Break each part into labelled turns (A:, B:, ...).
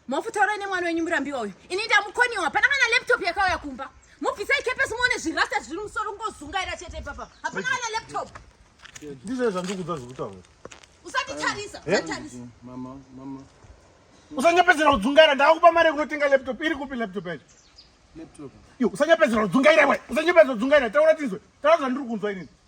A: mofutaura ine mwana wenyu murambiwa uyu ini ndamukoniwa hapana kana laptop yakauya kumba mubvisai kepesi muone zvirasta zviri musoro kungozungaira chete ipapa hapana kana laptop ndizvo zvandikudza zvekutaura usatitarisa eh? usatitarisa usanyapedzera kudzungaira ndaakupa mari yekunotenga laptop iri kupi laptop yacho usanyapedzera kudzungaira we usanyapedzera kudzungaira taura tizwe taura zvandiri kunzwa inini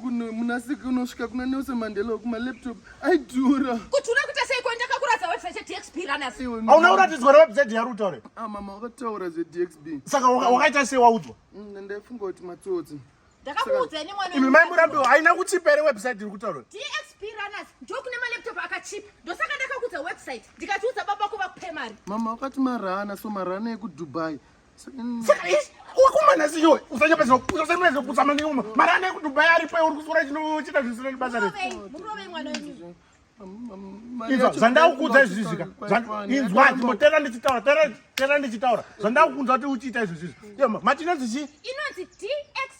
A: kuno munasiki unosvika kuna nelson mandela uku malaptop aidhura kuti una kuita seiko ndakakuratidza website yedxb runners Iwe, mama. hauna kuratidzwa rewebsite yaruta ure Ah, mama wakataura zvedxb saka waka- wakaita sei waudzwa Mm, ndaifunga kuti matsotsi ndakakuudza ini mwana imi mai murambiwa haina kuchipa here website iri kutaura dxb runners ndokune malaptop akachipa ndosaka ndakakuudza website ndikatiudza baba ko vakupe mari mama wakati marana so marana ekudubai Saka ishi wakumana siyo usanyapa zino usanyapa zino kutsama ni uma mara ane ku Dubai ari pa uri kusura chino chita zvinhu zino basa re Izo zanda ukudza izvi zvika inzwa ndimo tera ndi chitaura tera tera ndi chitaura zanda ukudza kuti uchita izvi zvizvi yo matinonzi chi inonzi DX